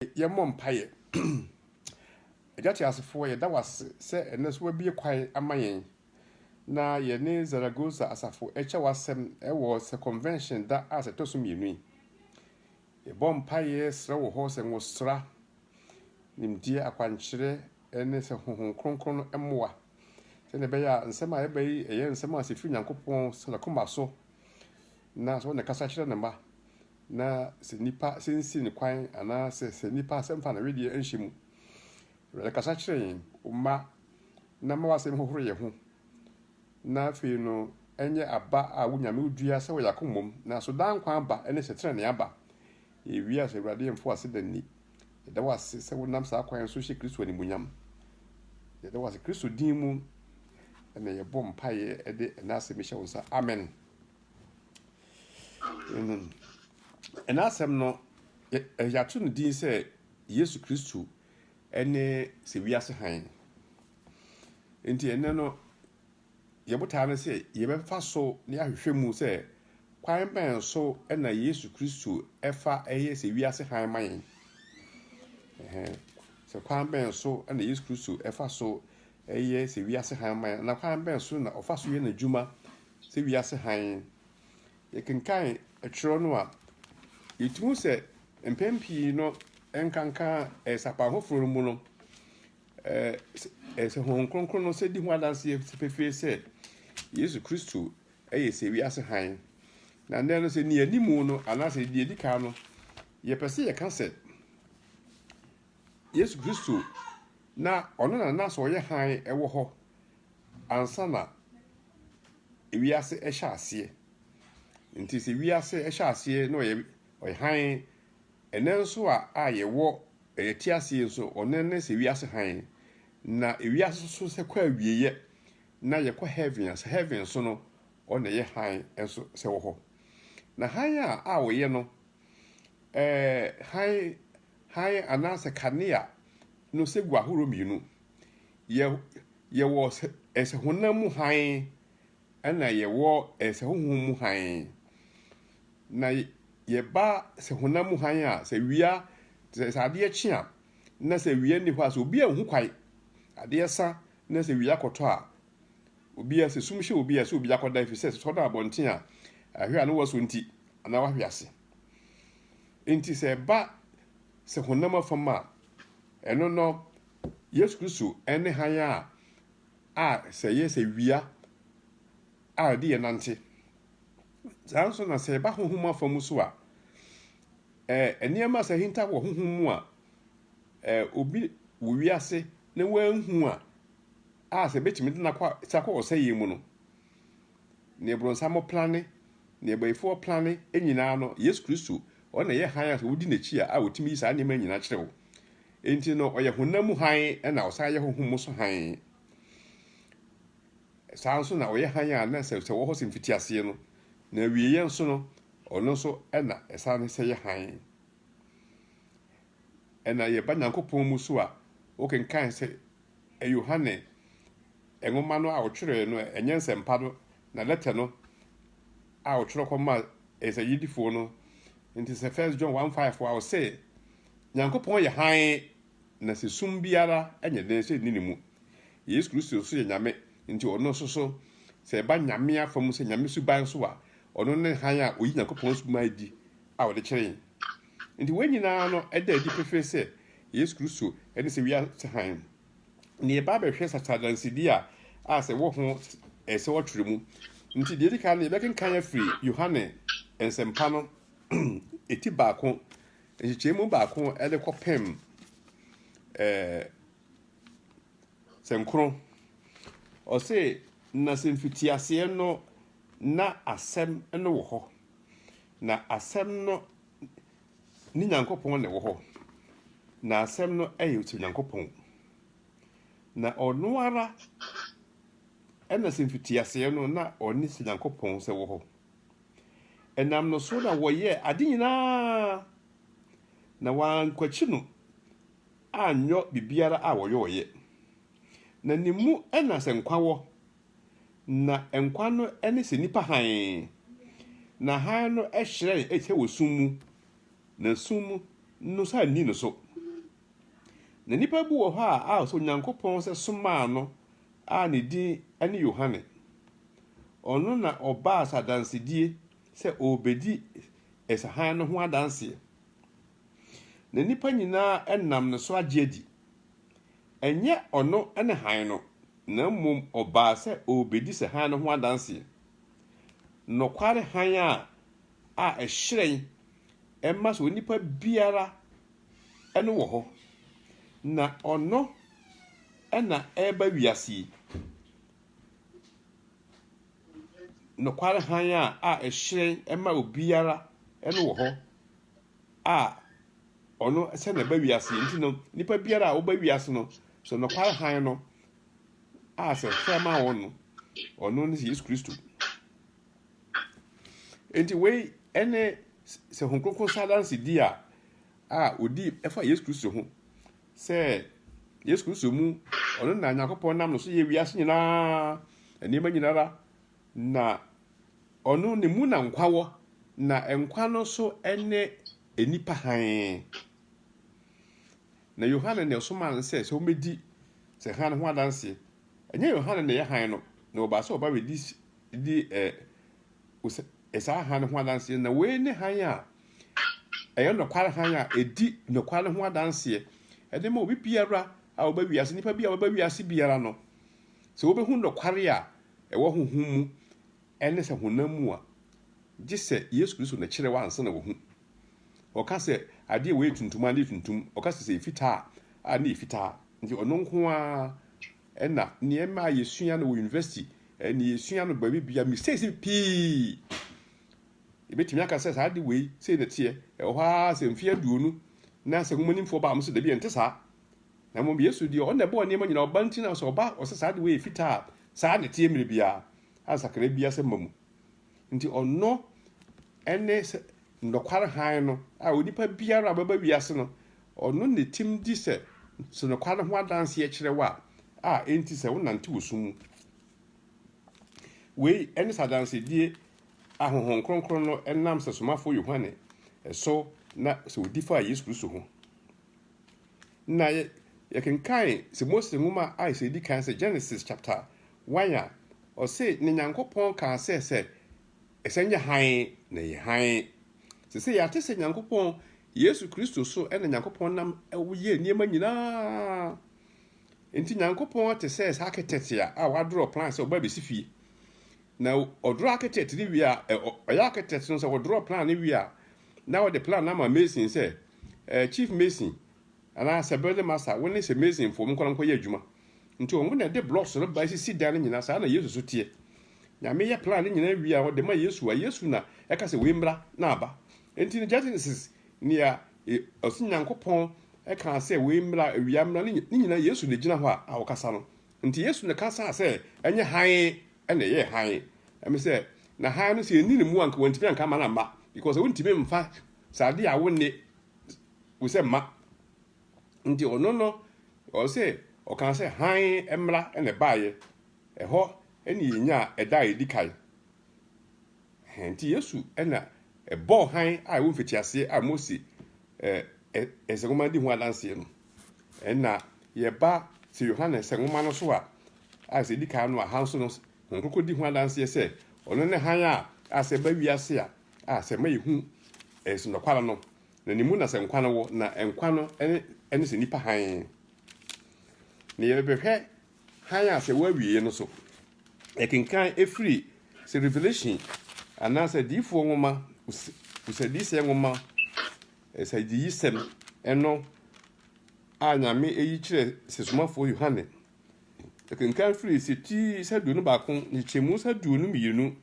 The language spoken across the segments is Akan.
Yɛmmɔ mpaeɛ. Agya Teasefoɔ, yɛda wo ase sɛ ɛnnɛ nso woabue kwan ama yɛn na yɛne Zaragoza asafo rekyɛ w'asɛm wɔ sɛ convention da a sɛ ɛtɔ so mmienu yi. Yɛbɔ mpaeɛ srɛ wo hɔ sɛ nwosra, nimdeɛ, akwankyerɛ ne sɛ Honhom Kronkron no mmoa sɛdeɛ ɛbɛyɛ a nsɛm a yɛba yi ɛyɛ nsɛm a sɛ ɛfiri Nyankopɔn sɛ n'akoma so Na sɛ ɔne kasa kyerɛ ne mma, na sɛ nnipa sinsin ne kwan, anaasɛ sɛ nnipa asɛm fa ne wedeɛ nhyɛ mu. Awurade kasa kyerɛ yɛn, O mma, na mma w'asɛm nhohoro yɛn ho, na afei no ɛnyɛ aba a wo Nyame dua sɛ wɔ yɛn akoma mu, na so daa nkwa aba ne sɛ tenenee aba. Yɛwie a, sɛ Awurade yɛn mfa w'aseda nni. Yɛda wo ase sɛ wonam saa kwan so hyɛ Kristo animuonyam. Yɛda wo ase Kristo din mu na yɛbɔ mpaeɛ de ɛnɛ asɛm yi hyɛ wo nsa. Amen. Amen. Ɛna asɛm no yɛato no din sɛ Yesu Kristo ne sɛ wiase hann. Nti ɛnɛ no yɛbotaa no sɛ yɛbɛfa so ne ahwehwɛ mu sɛ kwan bɛn so na Yesu Kristo ɛfa ɛyɛ sɛ wiase hann ma yɛn. Sɛ kwan bɛn so na Yesu Kristo ɛfa so ɛyɛ sɛ wiase hann ma yɛn na kwan bɛn so na ɔfa so yɛ n'adwuma sɛ wiase hann. Yɛkenkan kyerɛw no a, yetu hu sɛ mpɛn pii no ɛnkanka sapan foforo no mu no, ɛɛ sɛ Honhom Kronkron no sɛ di ho adanse pefee sɛ Yesu Kristo yɛ sɛ wiase hann. Na nnɛ no sɛ nea anim no anaasɛ deɛ edi kan no, yɛpɛ sɛ yɛka sɛ Yesu Kristo na ɔno na na sɛ ɔyɛ hann wɔ hɔ Ansa na wiase rehyɛ aseɛ. Nti sɛ wiase hyɛ aseɛ na ɔyɛ ɔyɛ hann. Ɛnnɛ nso a a yɛwɔ yɛte ase yi nso, ɔno ne sɛ wiase hann. Na wiase nso sɛ kɔ awieeɛ na yɛkɔ heaven a, sɛ heaven nso no, ɔno na ɛyɛ hann nso sɛ wɔ hɔ. Na hann a a ɔyɛ no, ɛɛ hann hann anaasɛ kanea no sɛ gu ahoroɔ mmienu. Yɛwɔ sɛ honam mu hann, ɛna yɛwɔ sɛ honhom mu hann. Na yɛba sɛ honam mu hann a, sɛ wia, sɛ adeɛ kye a, na sɛ wia nni hɔ a, sɛ obi anhu kwae, adeɛ sa na sɛ wia kɔtɔ a, obi a sɛ sum hyɛ obi a, sɛ obi akɔda efisɛ sɛ ɔda abɔnten a, ahwɛ a na wɔsɔ nti anaa wahwe ase. Nti sɛ ɛba sɛ honam afam a, Ɛno no, Yesu Kristo ne hann a a sɛ ɛyɛ sɛ wia a ɛde yɛn nante. Saa nso na sɛ ɛba honhom afa mu so a, ɛɛ nneɛma sɛ hinta wɔ honhom mu a, ɛɛ obi wɔ wiase na wɔanhu a, a sɛ ebetumi de no akɔ sakɔ ɔsɛeɛ mu no, Nea bronsam plane, nea bayifoɔ plane nyinaa no, Yesu Kristo, ɔno na ɛyɛ hann a sɛ wodi n'akyi a, a ɔtumi yi saa nneɛma nyinaa kyerɛ wo. Enti no, ɔyɛ honam mu hann na ɔsan yɛ honhom mu so hann. Saa nso na ɔyɛ hann a na sɛ sɛ wɔ hɔ sɛ mfitiaseɛ no, na awieeɛ nso no, ɔno nso na ɛsan sɛ yɛ hann. Ɛna yɛba Nyankopɔn mu so a, wokenkan sɛ Yohane nwoma no a ɔtwerɛɛ no, ɛnyɛ Nsɛmpa no, na lɛtɛ no a ɔtwerɛ kɔmaa nsɛnnyedifoɔ no, nti sɛ First John one five a ɔse, Nyankopɔn yɛ hann, na sɛ sum biara nyɛ den sɛ ɛnni ne mu. Yesu Kristo nso yɛ Nyame, nti ɔno nso so, sɛ ɛba Nyame afa mu sɛ Nyame suban so a, ɔno ne hann a ɔyi Nyankopɔn suban adi a wɔde kyerɛ yɛn. Enti wei nyinaa no da adi pefee sɛ Yesu Kristo ne sɛ wiase hann. Nea yɛba abɛhwɛ sasa adansedi a a sɛ wɔ ho ɛsɛ sɛ wɔtwerɛ mu nti, deɛ edi kan no yɛbɛkenkan afiri Yohane Nsɛmpa no ti baako nkyekyɛm mu baako de kɔpem ɛɛ sɛnkron. Ɔse, na sɛ mfitiaseɛ no na asɛm no wɔ hɔ. Na Asɛm no ne Nyankopɔn na ɛwɔ hɔ, na Asɛm no yɛ sɛ Onyankopɔn. Na ɔno ara na sɛ mfitiaseɛ no na ɔne sɛ Nyankopɔn sɛ wɔ hɔ. Ɛnam no so na wɔyɛɛ ade nyinaa, na wɔankwakyi no anyɔ biribiara a wɔyɔɔeɛ. Na ne mu na sɛ nkwa wɔ, Na nkwa no ne sɛ nnipa hann. Na hann no hyerɛn te sɛ wɔ sum mu, na sum no nso anni no so. Na nnipa bi wɔ hɔ a sɛ Onyankopɔn sɛ somaa no a ne din ne Yohane. Ɔno na ɔbaa sɛ adansedie sɛ ɔrebɛdi sɛ hann no ho adanseɛ. Na nnipa nyinaa nam ne so agye adi. Ɛnyɛ ɔno ne hann no, na mmom ɔbaa sɛ ɔrebɛdi sɛ hann no ho adanseɛ. Nokware hann a a ɛhyerɛn ɛma sɛ onipa biara no wɔ hɔ. Na ɔno na ɛreba wiase yi. Nokware hann a a ɛhyerɛn ɛma obiara no wɔ hɔ. a ɔno sɛ na ɛba wiase yi nti no nipa biara a woba wiase no sɛ nɔkware hann no a sɛ hwɛ ma wɔn no ɔno ne yesu kristo nti wei ɛne sɛ ho kronkron sa danse di a a odi ɛfa yesu kristo ho sɛ yesu kristo mu ɔno na nyankopɔn nam no so yɛ wiase nyinaa nneɛma nyinara Na Ɔno, Ne mu na nkwa wɔ, na nkwa no nso ne nnipa hann. Na Yohane na ɛsomaa no sɛ, sɛ wɔbɛdi sɛ hann no ho adanseɛ. Ɛnyɛ Yohane na ɛyɛ hann no, na wɔbaa sɛ wɔba bɛdi di ɛ, ɛ, saa hann no ho adanseɛ. Na wei ne hann a ɛyɛ nokware hann a ɛdi nokware no ho adanseɛ. Ɛde ma obi biara a wɔba wiase, nnipa bi a wɔba wiase biara no, sɛ wɔbɛhu nokware a ɛwɔ honhom mu ne sɛ honam mu a, gye sɛ Yesu Kristo na ɛkyerɛ wo ansa na wahu. Ɔka sɛ adeɛ wei yɛ tuntum a, ne yɛ tuntum. Ɔka sɛ sɛ yɛ fitaa a, ne yɛ fitaa. Nti ɔno nko ara na nneɛma a yɛsua no wɔ university, ne yɛsua no baabi bia, mistakes pii. Yɛbɛtumi aka sɛ saa de wei sei na ɛteɛ. Ɛwɔ hɔ ara sɛ mfeɛ aduonu na sɛ nwomanimfoɔ baa mo sɛ dabi ɛnte saa. Na mmom Yesu deɛ, ɔno na ɛbɔɔ nneɛma nyinaa, ɔba nti na sɛ ɔba a, ɔsɛ saa de wei yɛ fitaa a, saa na ɛteɛ mmerɛ biara, a nsakraeɛ biara sɛ mma mu. Nti ɔno ne sɛ nɔkware hann no, a onipa biara a ɔbɛba wiase no, ɔno ne tim di sɛ sɛ nɔkware no ho adanseɛ kyerɛ wo a, a enti sɛ wonante wɔ sum mu. Wei ne sɛ adansedie a Honhom Kronkron no nam sɛ somafoɔ Yohane so na sɛ ɔdi faa Yesu Kristo ho. Na yɛ, yɛkenkan sɛ Mose nwoma a ɛsɛ edi kan sɛ Genesis chapter one a, ɔse, Na Nyankopɔn kaa sɛ, sɛ ɛsɛ nyɛ hann, na ɛyɛ hann. Sesei yɛate sɛ Nyankopɔn, Yesu Kristo so na Nyankopɔn nam yɛ nneɛma nyinaa. Nti Nyankopɔn te sɛ saa ketɛte a, a wadrɔ plan sɛ ɔba besi fie. Na ɔdrɔ aketɛte no wie a, ɛ, ɔ, ɔyɛ aketɛte no sɛ ɔdrɔ plan no wie a, na ɔde plan no ama Mason sɛ, eh, Chief Mason, anaa sɛ Building Master, wo ne sɛ Masonfoɔ monkɔ na monkɔ yɛ adwuma. Nti wɔn na ɛde blocks no ba sisi dan no nyinaa, saa na Yesu so teɛ. Nyame yɛ plan no nyinaa wie a ɔde ma Yesu a Yesu na ɛka sɛ wei mmra na aba. Nti no Genesis nea e, ɔsi Nyankopɔn ɛkaa sɛ wei mmra, awia mmra, ne nyinaa Yesu na egyina hɔ a, a ɔkasa no. Nti Yesu na kasaa sɛ ɛnyɛ hann ɛna ɛyɛ hann. Ɛmi sɛ na hann no sɛ ɛni ne mu anka wɔntumi anka ama no amma because wɔntumi mfa Sɛ ade a wone wo sɛ mma. Nti ɔno no, ɔse, ɔkaa sɛ, hann mmra na ɛbaeɛ, ɛhɔ na yɛnyaa ɛda a ɛdi kan. Ɛhɛn, nti Yesu na ɛbɔɔ hann a ɛwɔ mfitiaseɛ a Mose nsɛnwoma no di ho adanseɛ no. Ɛna yɛba sɛ Yohane nsɛnwoma no so a, a sɛ ɛdi kan no a, hann so no, Honhom Kronkron di ho adanseɛ sɛ ɔno ne hann a a sɛ ɛba wiase a, A, sɛ ɛma yɛhu ɛs nokware no, na ne mu na sɛ nkwa no wɔ, na nkwa no ɛne, ɛne sɛ nipa hann. Na yɛbɛhwɛ hann a sɛ wɔawie no so. Yɛkenkan ɛfiri sɛ Revelation anaasɛ adiyifoɔ nwoma, us, usadiyisɛ nwoma, ɛsadiyisɛm ɛno a Nyame ɛyi kyerɛ sɛ somafoɔ Yohane Ɛkenkan firi setiirs aduonu baako nkyekyɛmu aduonu mmienu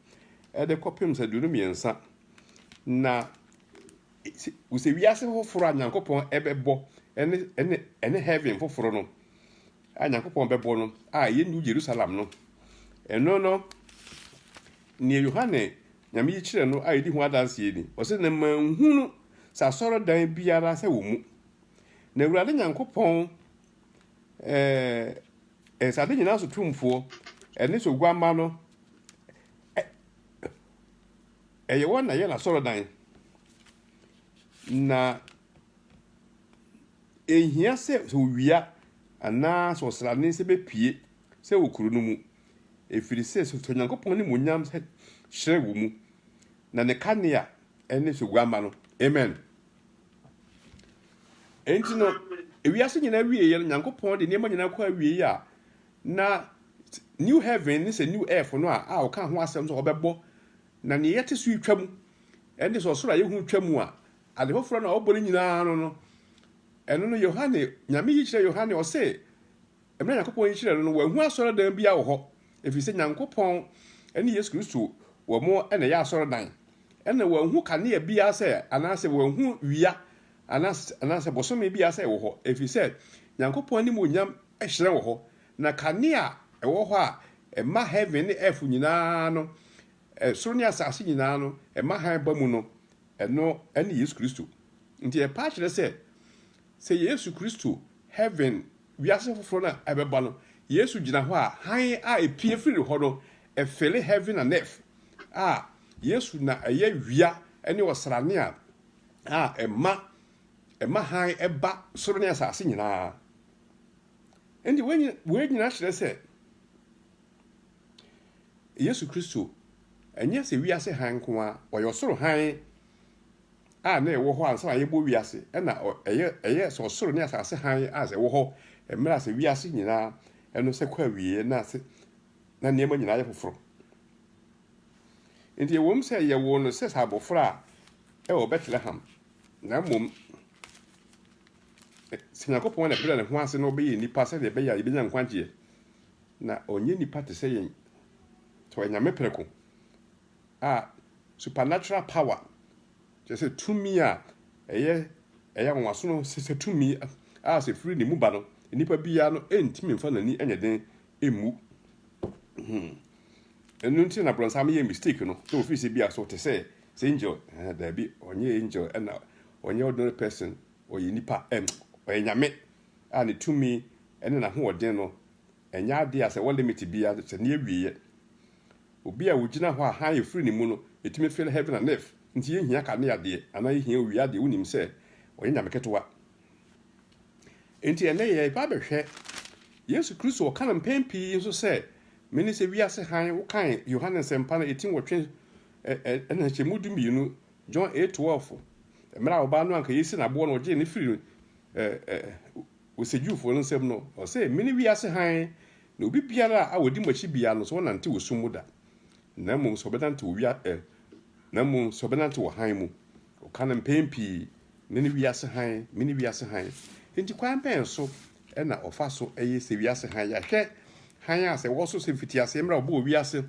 de kɔpem aduonu mmiɛnsa. Na sɛ wiase foforɔ a Nyankopɔn bɛbɔ ne ne ɛne heaven foforɔ no a Nyankopɔn bɛbɔ no a ɛyɛ New Jerusalem no, ɛno no nea Yohane nyame yi kyerɛ no a yɛdi ho adanseɛ ni. Ɔsɛ na manhunu sɛ asɔredan biara sɛ wɔ mu. Na Awurade Nyankopɔn ɛɛ ɛsɛ ade nyinaa so tumfoɔ ɛne so guamma no ɛyɛ wɔn na yɛ n'asɔrɔdan na ehia sɛ sɛ owia anaa sɛ ɔsrane sɛ bepie sɛ wɔ kuro no mu efiri sɛ sɛ onyankopɔn ne mu nyam sɛ hyerɛ wɔ mu na ne kanea ɛne so guamma no amen. Enti no, ewiase nyinaa wieeɛ no, Nyankopɔn de nneɛma nyinaa kɔ awieeɛ a, na new heaven ne sɛ new earth no a a ɔka ho asɛm sɛ ɔbɛbɔ na nea yɛte so yi twa mu ɛne sɛ ɔsoro a yɛhu twa mu a ade foforɔ no a ɔbɔ no nyinaa no no ɛno no Yohane nyame yi kyerɛ Yohane ɔse Bere a Nyankopɔn nhyira no no, wanhu asɔredan biara wɔ hɔ, efisɛ Nyankopɔn ne Yesu Kristo wɔ mo na ɛyɛ asɔredan. Ɛnna wanhu kanea biara sɛ, anaasɛ wanhu wia anaasɛ, anaasɛ bosome biara sɛ ɛwɔ hɔ, efisɛ Nyankopɔn animuonyam hyerɛn wɔ hɔ, na kanea a ɛwɔ hɔ a ɛma heaven ne earth nyinaa no, soro ne asase nyinaa no, ɛma hann ba mu no, ɛno ne Yesu Kristo. Nti ɛpɛ akyerɛ sɛ, sɛ Yesu Kristo, heaven wiase foforo no a ɛbɛba no, Yesu gyina hɔ a hann a epue firi ne hɔ no fɛle heaven and earth a Yesu na ɛyɛ wia ne ɔsrane a a ɛma ɛma hann ɛba soro ne asase nyinaa. Enti wei wei nyinaa kyerɛ sɛ Yesu Kristo ɛnyɛ sɛ wiase hann nko ara, ɔyɛ ɔsoro hann. a na ɛwɔ hɔ ansa na yɛbɔ wiase na ɛyɛ ɛyɛ sɛ ɔsoro ne asase hann a sɛ ɛwɔ hɔ mmerɛ a sɛ wiase nyinaa ɛno sɛ kɔ awieɛ na sɛ na nneɛma nyinaa yɛ foforo. Nti ɛwom sɛ yɛwoo no sɛ sɛ abɔfra a ɛwɔ Bethlehem na mmom sɛ Nyankopɔn na ɛbrɛ ne ho ase na ɔbɛyɛ nipa sɛdeɛ ɛbɛyɛ a yɛbɛnya nkwagyeɛ na ɔnyɛ nipa te sɛ yɛn sɛ ɔyɛ nyame prɛko a supernatural power, kyerɛ sɛ tumi a ɛyɛ ɛyɛ anwanwaso no, sɛ sɛ tumi a sɛ firi ne mu ba no, nipa biara no ntumi nfa n'ani nyɛ den mmu. Hmm. Ɛno nti na brɔnsam yɛ mistake no, sɛ ofiri sɛ bi aso te sɛ sɛ angel, ɛɛ daabi, ɔnyɛ angel ɛna ɔnyɛ ordinary person, ɔyɛ nipa, ɛm, ɔyɛ nyame a ne tumi ɛne n'ahoɔden no ɛnyɛ adeɛ a sɛ wɔ limit biara sɛ ne awieɛ. Obi a ogyina hɔ a hann efiri ne mu no, etumi feel heaven and earth. Ntsi yennhia kanea deɛ, anaa yehia owia deɛ, wonim sɛ ɔyɛ nyame ketewa. Ntsi ɛnnɛ yɛreba abɛhwɛ Yesu Kristo, ɔka no mpɛn pii nso sɛ, Mene sɛ wiase hann, wokan Yohane Nsɛmpa no eti nwɔtwe ɛ, na nhyɛmu du mmienu, John eight twelve. Mmerɛ a ɔbaa no anka yɛresi no aboɔ no, ɔgyee no firii ɛ, ɛ, ɔsɛdwufoɔ no nsam no, ɔsɛ, Mene wiase hann, Na obi biara a ɔdi mo akyi biara no, sɛ ɔnante wɔ sum mu da, na mmom sɛ ɔbɛnante wɔ wia ɛ, na mmom sɛ ɔbɛnante wɔ hann mu. Ɔka no mpɛn pii, Mene wiase hann, mene wiase hann. Enti kwan bɛn so na ɔfa so ye sɛ wiase hann? Yɛahwɛ hann a sɛ ɛwɔ so sɛ mfitiaseɛ mmerɛ a wɔbɔɔ wiase,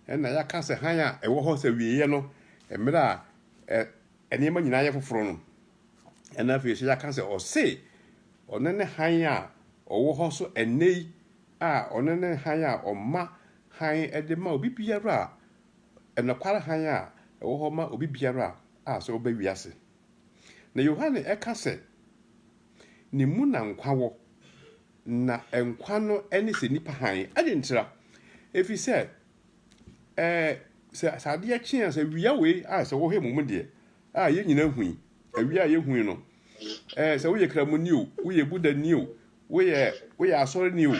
ɛna yɛaka sɛ hann a ɛwɔ hɔ sɛ awieeɛ no, mmerɛ a ɛ, nneɛma nyinaa yɛ foforo no, ɛnna afei nso yɛaka sɛ ɔse ɔno ne hann a ɔwɔ hɔ nso ɛnnɛ yi, a ɔno ne hann a ɔma hann de ma obi biara a, ɛnokware hann a ɛwɔ hɔ ma obi biara a sɛ ɔba wiase. Na Yohane ɛka sɛ, ne mu na nkwa wɔ, na nkwa no ne sɛ nnipa hann. Adɛn ntira? Ɛfiri sɛ ɛɛ sɛ sɛ adeɛ kye a sɛ wia wei a sɛ wohwɛ mu mu deɛ a yɛn nyinaa hui awia a yɛhui no ɛɛ sɛ woyɛ kramoni o woyɛ budani o woyɛ woyɛ asɔreni o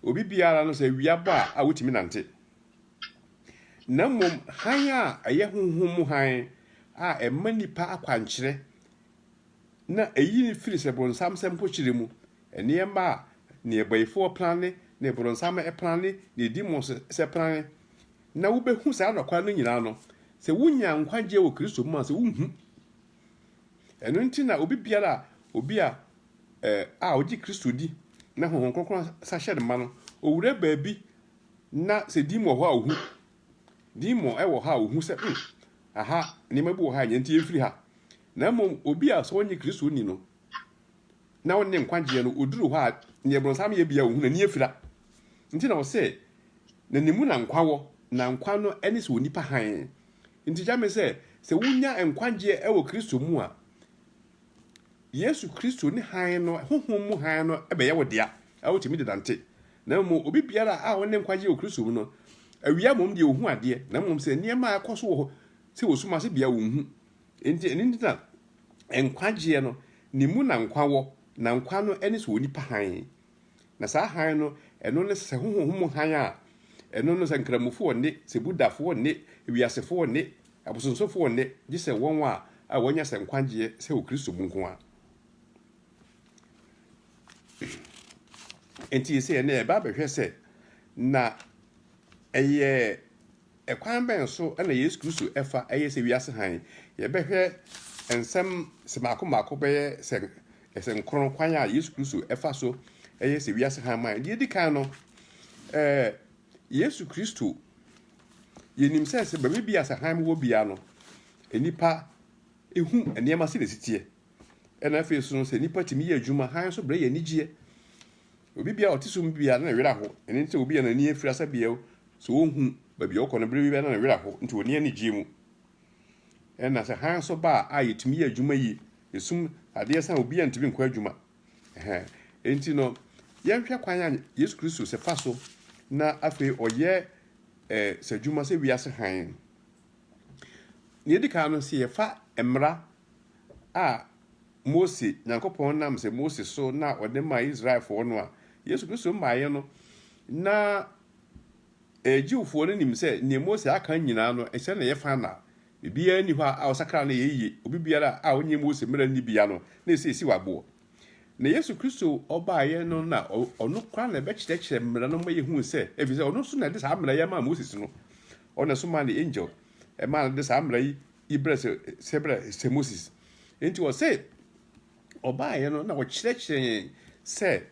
obi biara no sɛ awia bɔ a a wotumi nante na mmom hann a ɛyɛ honhom mu hann a ɛma nipa akwankyerɛ na eyi no firi sɛ bronsam sɛ mpokyerɛ mu nneɛma a nneɛbayifoɔ prane ne bronsam prane ne demons sɛ prane na wobɛhu saa nɔkwa no nyinaa no sɛ wonya nkwagyeɛ wɔ kristo mu a sɛ wohu ɛno nti na obi biara a obi a eh, a ɔgye kristo di na honhom kronkron sahyɛ no ma no ɔwura baabi na sɛ din wɔ hɔ a ɔhu Demon wɔ hɔ a ohu sɛ, hmm, aha, nneɛma bi wɔ ha a nea nti yɛmfiri ha. Na mmom obi a sɛ ɔnyɛ Kristoni no, na ɔne nkwagyeɛ no, ɔduru hɔ a, neɛ bronsam yɛ bia ɔhu n'ani afira. Nti na ɔsɛ, na ne mu na nkwa wɔ, na nkwa no ne sɛ onipa hann. Nti gya me sɛ, sɛ wonya nkwagyeɛ wɔ Kristo mu a, Yesu Kristo ne hann no, honhom mu hann no bɛyɛ wo dea, a wotumi de nante. Na mmom obi biara a ɔne nkwagye wɔ Kristo mu no, awia mmom deɛ ɔhu adeɛ, na mmom sɛ nneɛma a ɛkɔ so wɔ hɔ sɛ wɔ sum ase bea ɔnhu. Enti ɛno nti na nkwagyeɛ no, ne mu na nkwa wɔ, na nkwa no ne sɛ onipa hann. Na saa hann no, ɛno ne sɛ honhom mu hann a ɛno no sɛ nkramofo ɔnne, sɛ Budhafo ɔnne, wiasefo ɔnne, abosonsomfo ɔnne, gye sɛ wɔn a a wɔanya sɛ nkwagyeɛ sɛ wɔ Kristo mu nko ara. Enti ɛsɛ ɛnɛ ɛba abɛhwɛ sɛ na ɛyɛ Ɛkwan bɛn so na Yesu Kristo fa yɛ sɛ wiase hann? Yɛbɛhwɛ nsɛm mmaako mmaako bɛyɛ sɛ sɛ nkron, kwan a Yesu Kristo fa so yɛ sɛ wiase hann ma yɛn. Deɛ edi kan no, ɛɛ Yesu Kristo, yɛnim sɛ sɛ baabi bi a sɛ hann wɔ biara no, nnipa hu nneɛma sɛdeɛ ɛsi teɛ. Ɛna afei nso no, sɛ nnipa tumi yɛ adwuma, hann nso brɛ yɛn anigyeɛ. Obi biara ɔte sum biara na ne werɛ aho. Ɛno nti sɛ obi a n'ani afira sɛ bea o, Sɛ wonhu baabi a ɔkɔ no bere bi na ne werɛ ahow nti onni anigye mu. Ɛna sɛ hann nso ba a yetumi yɛ adwuma yie. Esum adeɛ sa a obi antumi nkɔ adwuma. Ɛhɛn. Enti no, yɛnhwɛ kwan a Yesu Kristo sɛ fa so na afei ɔyɛ eh, sɛ adwuma sɛ wiase hann. Nea edi kan no, sɛ yɛfa mmara a Mose, Nyankopɔn nam sɛ Mose so na ɔde maa Israelfoɔ no a, Yesu Kristo mmaeɛ no, na Ɛɛ, Jewfoɔ no nim sɛ nea Mose aka nyinaa no, nhyɛ no yɛ fa na biribiara nni hɔ a ɔsakra no yɛ yiye. Obi biara a ɔnyɛ Mose mmara no bi ano na esiesie waboɔ. Na Yesu Kristo ɔbaeɛ no na ɔno koraa na ɛbɛkyerɛkyerɛ mmara no ma yɛhu sɛ, ɛfiri sɛ ɔno nso na ɛde saa mmara yi amaa Moses no. Ɔno na ɛsomaa ne angel ɛmaa no de saa mmara yi yi brɛ sɛ sɛ brɛ sɛ Moses. Enti ɔse ɔbaeɛ no na ɔkyerɛkyerɛ yɛn sɛ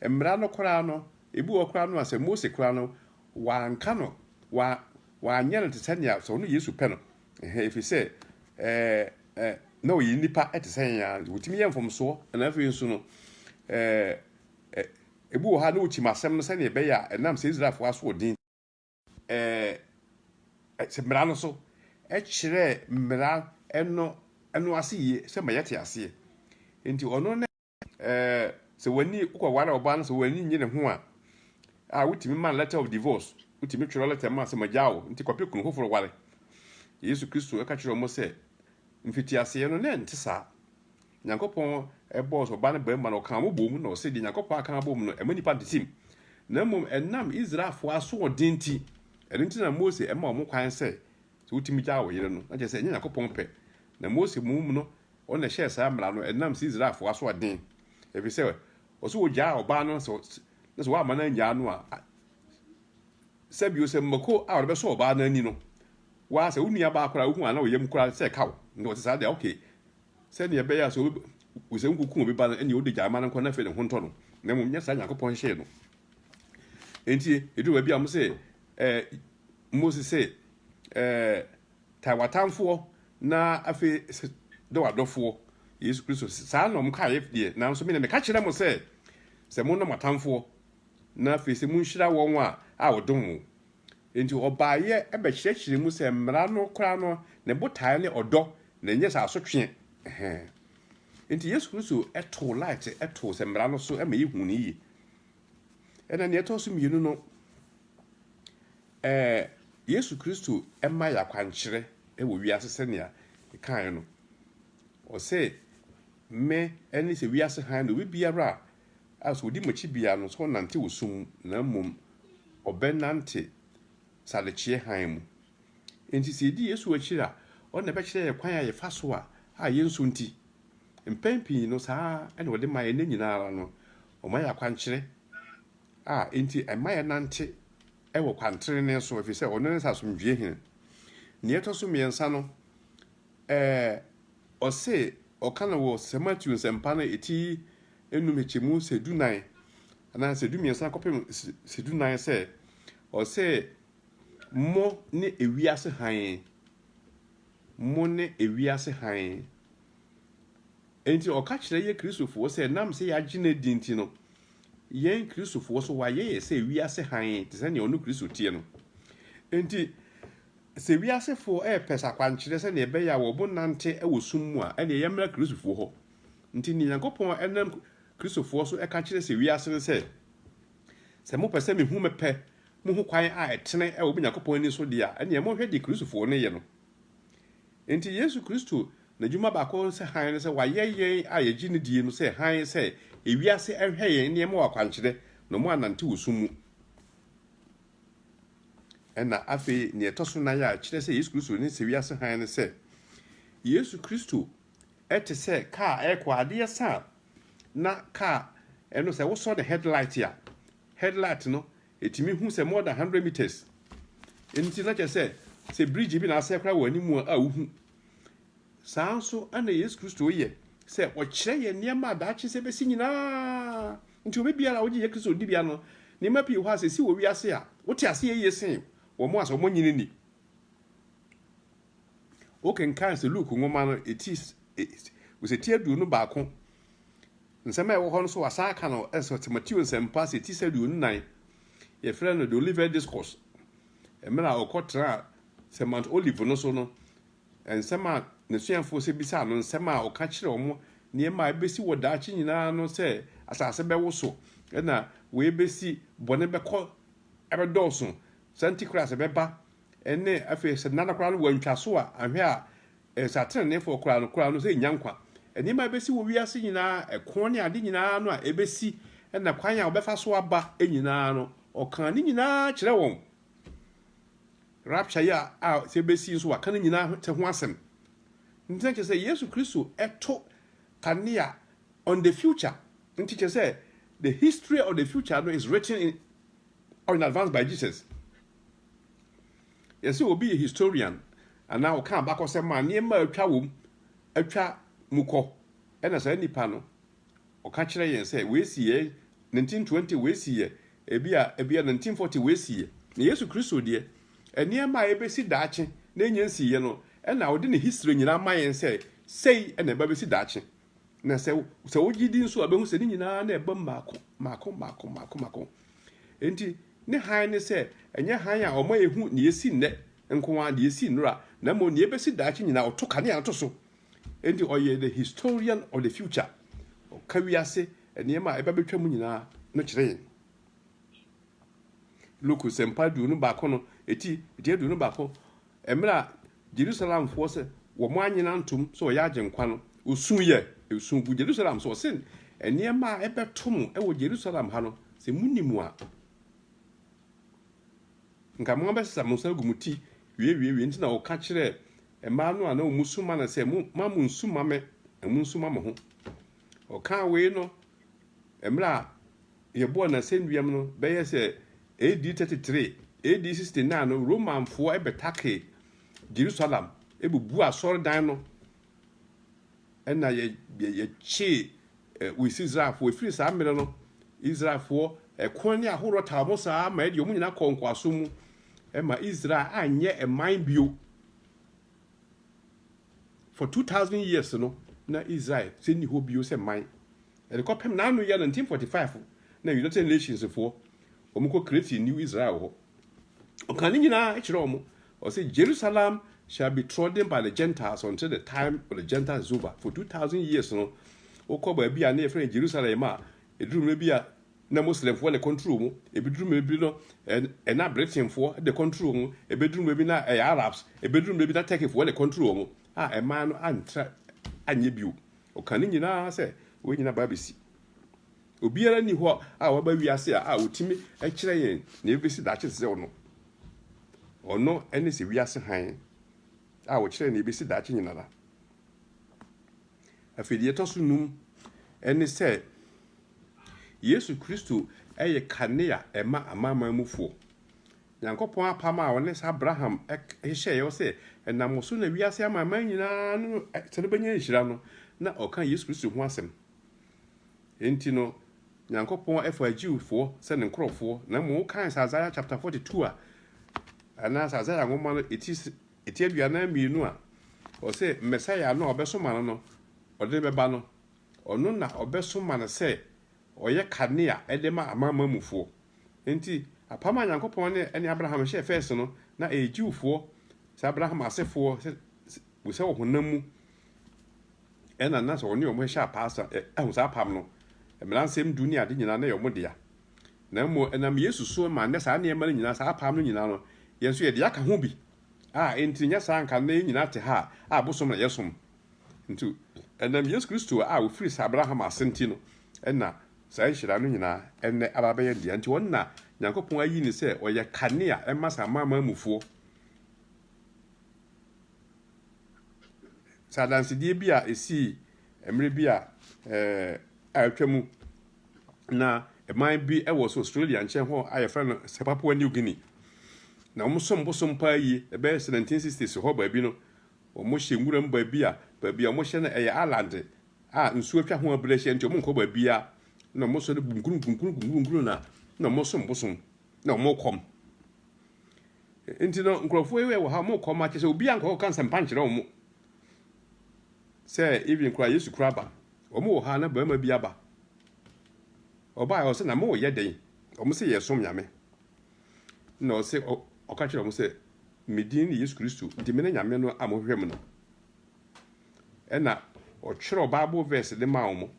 mmara no koraa no Ebi wɔ hɔ koraa no a, sɛ Mose koraa no, wanka no, wa, wanyɛ no te sɛ nea sɛ ɔno Yesu pɛ no. Ɛhɛn, efiri sɛ, ɛɛ, ɛ, na ɔyɛ nipa te sɛ yɛn ara. Wɔtumi yɛ mfomsoɔ, na afei nso no, ɛɛ, ɛ, ebi wɔ hɔ a na ɔkyim asɛm no sɛnea ɛbɛyɛ a ɛnam sɛ Israelfoɔ asoɔden, ɛɛ, ɛ, sɛ mmara no so, ɛkyerɛɛ mmara no, no ase yie sɛ ma yɛte aseɛ. Enti ɔno ne. Ɛɛ, sɛ w'ani wokɔware ɔbaa no, sɛ w'ani nnye ne ho a, a wotumi ma letter of divorce, wotumi twerɛ letter ma sɛ magyaa wo, nti kɔpɛ kunu foforɔ ware. Yesu Kristo ka kyerɛɛ wɔn sɛ, mfitiaseɛ no, na ɛnte saa. Nyankopɔn bɔɔ sɛ ɔbaa no barima na ɔkaa mo bom, na ɔsɛ deɛ Nyankopɔn aka abom no, ɛma nipa ntetem. Na mmom ɛnam Israelfoɔ asoɔden nti, ɛno nti na Mose ma wɔn kwan sɛ sɛ wotumi gyaa wo yere no, na kyerɛ sɛ ɛnyɛ Onyankopɔn pɛ. Na Mose mmom no, ɔno na ɛhyɛɛ saa mmara no, ɛdenam sɛ Israelfo asoɔden, efisɛ ɔse wogyaa ɔbaa no, na sɛ woamma no annyaa no a, sɛ bio sɛ mmako a ɔde bɛsɔ ɔbaa no ani no, waa sɛ wo nua baa koraa wohu a na wo yam koraa sɛ ɛka wo, na ɔte saa deɛ, okay, sɛdeɛ ɛbɛyɛ a sɛ obi wosɛ nkuku obi ba no ɛne odi gyae ma no nkɔ na afei ne ho ntɔ no na mmom nyɛ saa Nyankopɔn hyehyɛɛ no nti ɛduru baabi a wɔn sɛ ɛɛ Mose se, Eh, taa w'atamfoɔ na afei se dɔ w'adɔfoɔ, Yesu Kristo. Saa na wɔn kaeɛ deɛ, nanso me deɛ meka kyerɛ mo sɛ, sɛ monnɔ mo atamfoɔ, na afei se monhyira wɔn a a wɔdom mo. Enti ɔbaeɛ bɛkyerɛkyerɛɛ mu sɛ mmara no koraa no, ne botaeɛ ne ɔdɔ, na ɛnyɛ sɛ asotweɛ. Ɛhɛɛ. Enti Yesu Kristo too light too sɛ mmara no so ma yɛhuu no yie. Ɛnna nea ɛtɔ so mmienu no, ɛɛ Yesu Kristo ma yɛ akwankyerɛ wɔ wiase sɛnea ɛkaeɛ no. Ɔsɛ me ne sɛ wiase hann no, obi biara a a sɛ ɔdi m'akyi biara no, sɛ ɔnante wɔ sum mu, na mmom ɔbɛnante sadekyeɛ hann mu. Enti sɛ yɛdi Yesu akyiri a, ɔno na ɛbɛkyerɛ yɛ kwan a yɛfa so a a yɛnsunti. Mpɛn pii no, saa na ɔde ma yɛn nna nyinaa ara no. Wɔma yɛn akwankyerɛ a enti ɛma yɛnante wɔ kwantrenee so, ɛfiri sɛ ɔno ne asomdwoeɛ hene. Nea ɛtɔ so mmiɛnsa no, ɛɛ, ɔse, ɔka no wɔ Sɛ Mateo Nsɛmpa no eti nnum hyɛkyɛmu sɛ du nan anaa sɛ du mmiɛnsa kɔpem sɛ du nan sɛ, ɔse, Mo ne ewiase hann. Mo ne ewiase hann. Enti ɔka kyerɛ yɛ Kristofoɔ sɛ nam sɛ yɛagye no adi nti no, yɛn Kristofoɔ so wayɛ yɛ sɛ wiase hann te sɛ nea ɔno Kristo teɛ no. Enti sɛ wiasefoɔ repɛ sɛ akwankyerɛ sɛnea ɛbɛyɛ a wɔbo nante wɔ sum mu a, ɛnneɛ yɛmmra Kristofoɔ hɔ. Nti nea Nyankopɔn ɛnam Kristofoɔ so ɛka kyerɛ sɛ wiase no sɛ, sɛ mopɛ sɛ mehu mepɛ mo ho kwan a ɛtene wɔ mo Nyankopɔn ani so deɛ a, ɛnneɛ monhwɛ deɛ Kristofoɔ no yɛ no. Enti Yesu Kristo n'adwuma baako ne sɛ hann no sɛ wayɛ yɛn a yɛgye no die no sɛ hann sɛ ewiase nhwɛ yɛn nneɛma wɔ akwankyerɛ na wɔannante wɔ sum mu. Ɛna afei nea ɛtɔ so nan a ɛkyerɛ sɛ Yesu Kristo ne sɛ wiase hann ne sɛ Yesu Kristo te sɛ kaa a ɛrekɔ adeɛ sa a na kaa ɛno sɛ wosɔ ne headlight a headlight no Etumi hu sɛ more than hundred metres nti na kyerɛ sɛ sɛ bridge bi na asɛe koraa wɔ anim a a wohu. Saa nso na Yesu Kristo yɛ sɛ ɔkyerɛ yɛn nneɛma a daakye sɛ ebesi nyinaa. Nti obi biara a ogye Yesu Kristo di bia no, nneɛma pii wɔ hɔ a sɛ esi wɔ wiase a, wote ase yɛ yiye sen wɔn a sɛ wɔnyini nni. Wokenkan sɛ Luke nwoma no ti sɛ ti aduonu baako. Nsɛm a ɛwɔ hɔ no nso wɔasan aka no sɛ sɛ Mateo nsɛmpa sɛ ti sɛ aduonu nnan. Yɛfrɛ no The Olivet Discourse. Mmerɛ a ɔkɔtraa sɛ Mount Olive no so no, nsɛm a n'asuafoɔ sɛ bisaa no nsɛm a ɔka kyerɛ wɔn nneɛma a ɛbɛsi wɔ daakye nyinaa no sɛ asase bɛwoso na wei bɛsi, bɔne bɛkɔ ɛbɛdɔɔso, sɛ Antichrist bɛba Ɛnne, afei sɛ nnada koraa no wɔantwa so a, anhwɛ a ɛsɛ ateneneefoɔ koraa no koraa no sɛ ɛnnya nkwa. Nneɛma a ɛbɛsi wɔ wiase nyinaa, ɛko ne ade nyinaa no a ɛbɛsi na kwan a wɔbɛfa so aba nyinaa no, ɔkaa ne nyinaa kyerɛ wɔn. Rapture yi a, a sɛ ɛbɛsi nso waka ne nyinaa ho, ho asɛm. Nti na kyerɛ sɛ Yesu Kristo ɛto kanea on the future. Nti kyerɛ sɛ the history of the future no is written in, or in advance by Jesus. Yɛ sɛ obi yɛ historian anaa ɔka abakɔsɛm a nneɛma a atwa wom atwa mu kɔ, ɛna saa nipa no ɔka kyerɛ yɛn sɛ wei si yɛ 1920 wei si yɛ ebi a ebi a 1940 wei si yɛ. Na Yesu Kristo deɛ nneɛma a ebesi daakye na enya nsi yɛ no ɛna ɔde ne history nyinaa ma yɛn sɛ sei ɛna ɛba besi daakye. na sɛ sɛ wogye di nso a bɛhu sɛ ne nyinaa na ɛbam mako mako mako mako mako enti ne hann ne sɛ ɛnyɛ hann a ɔma yɛhu ne yɛsi nnɛ nko ara ne yɛsi nnora na mmom ne yɛbɛsi daakye nyinaa ɔto kanea to so enti ɔyɛ the historian of the future ɔka wiase nneɛma a ɛba bɛtwa mu nyinaa no kyerɛ yɛn Luke Nsɛmpa aduonu baako no eti eti aduonu baako mmerɛ a Jerusalemfoɔ sɛ wɔn anyina ntom sɛ ɔyɛ agyenkwa no osu yɛ esu gu Jerusalem so ɔse nneɛma a ɛbɛto mo ɛwɔ Jerusalem ha no sɛ mo ni mu a nka mo abɛsesa mo nsa gu mo ti wiewiewiewie nti na ɔka kyerɛ mmaa no a na wɔn su ma no sɛ mo ma mo nsu ma me na mo nsu ma mo ho ɔka wei no mmerɛ a Yɛbɔɔ n'asɛnnua mu no, bɛyɛ sɛ AD 33, AD 69 no, Romanfoɔ bɛtakee Jerusalem, bubuu asɔredan no, ɛnna yɛkyee West Israelfoɔ. Ɛfiri saa mmerɛ no, Israelfoɔ ɛko ne ahoroɔ taa wɔn saa ma ɛde wɔn nyinaa kɔɔ nkoasom mu ma Israel anyɛ man bio. for two thousand years no na israel sɛ nni hɔ bio sɛ man ɛde kɔpem na ano yɛ 1945 na united nations foɔ wɔn kɔ create new israel hɔ ɔka ne nyinaa kyerɛ wɔn ɔsɛ jerusalem shall be trodden by the gentiles until the time of the gentiles is over for two thousand years no wokɔ baabi a na yɛfrɛ no jerusalem a ɛduru mmerɛ bi a na Muslimfoɔ na ɛkɔntrol mu, ɛbɛduru mmerɛ bi no na Britainfoɔ na ɛkɔntrol mu, ɛbɛduru mmerɛ bi na ɛyɛ Arabs, ɛbɛduru mmerɛ bi na Turkeyfoɔ na ɛkɔntrol mu, a ɛmaa no antra anyɛ bio. Ɔka ne nyinaa sɛ wei nyinaa baa bɛsi. Obiara nni hɔ a waba wiase a ɔtumi kyerɛ yɛn na ɛbɛsi daakye te sɛ ɔno. Ɔno ne sɛ wiase hann a ɔkyerɛ na ɛbɛsi daakye nyinara. Afei deɛ ɛtɔ so num ne sɛ Yesu Kristo yɛ kanea ɛma amanaman mufoɔ. Nyankopɔn apam a ɔne sɛ Abraham hyehyɛeɛ sɛ ɛnam wo so na wiase amanaman nyinaa no sɛ no bɛnya nhyira no, na ɔka Yesu Kristo ho asɛm. Enti no, Nyankopɔn ɛfa Jewfoɔ sɛ ne nkorɔfoɔ, na mmom wokan sɛ Isaiah chapter 42 a, anaasɛ Isaiah nwoma no ɛti Ɛte aduanan mmienu a ɔse Mɛsaia no a ɔbɛsoma no no ɔde bɛba no, ɔno na ɔbɛsoma no sɛ ɔyɛ kanea de ma Amanaman mufoɔ. Enti apam a Nyankopɔn ne ɛne Abraham hyɛɛ first no, na ɛyɛ Jewfoɔ, sɛ Abraham asefoɔ, sɛ sɛ wɔ honam mu ɛna na sɛ ɔne wɔn hyɛ apaa, ahu saa apam no, mmaransɛm du ne ade nyinaa na ɛyɛ wɔn dea. na mmom ɛnam Yesu so ma nnɛ saa nneɛma no nyinaa, saa apam no nyinaa no, yɛn nso yɛde aka ho bi. A Enti nyɛ saa anka nnɛ yɛn nyinaa te ha a bosom na yɛsom. Nti, ɛnam Yesu Kristo a ɔfiri saa Abraham ase nti no na saa nhyira no nyinaa ɛnnɛ aba abɛyɛ dea. Nti ɔno na Nyankopɔn ayi no sɛ ɔyɛ kanea ɛma saa amanaman mufoɔ. Sɛ adansedie bi a ɛsii mmerɛ bi a a atwa mu na man bi wɔ so Australia nkyɛn hɔ a yɛfrɛ no sɛ Papua New Guinea. Na wɔn som bosom paa yie. Ɛbɛyɛ sɛ 1960s hɔ baabi no, wɔhyɛ nwura mu baabi a baabi a wɔhyɛ no ɛyɛ island a nsuo atwa ho abere ahyia nti wɔnkɔ baabiara. Na wɔsɔre gunkunu gunkunu gunkunu na na wɔsom bosom na wɔkɔm. Nti no nkurɔfoɔ yi wɔ ha wɔkɔm akyɛ sɛ obiara nkɔkɔka nsɛmpa nkyerɛ wɔn. Sɛ even koraa yesu koraa ba ɔmo wɔ ha na barima bi aba ɔbaa ɔsɛ na mo yɛ dɛn ɔmo sɛ yɛ som nyame na ɔsɛ ɔka kyerɛ ɔmo sɛ medin ne yesu kristo nti mene nyame no a mohwehwɛ mu no ɛna ɔtwerɛ bible verse de maa ɔmo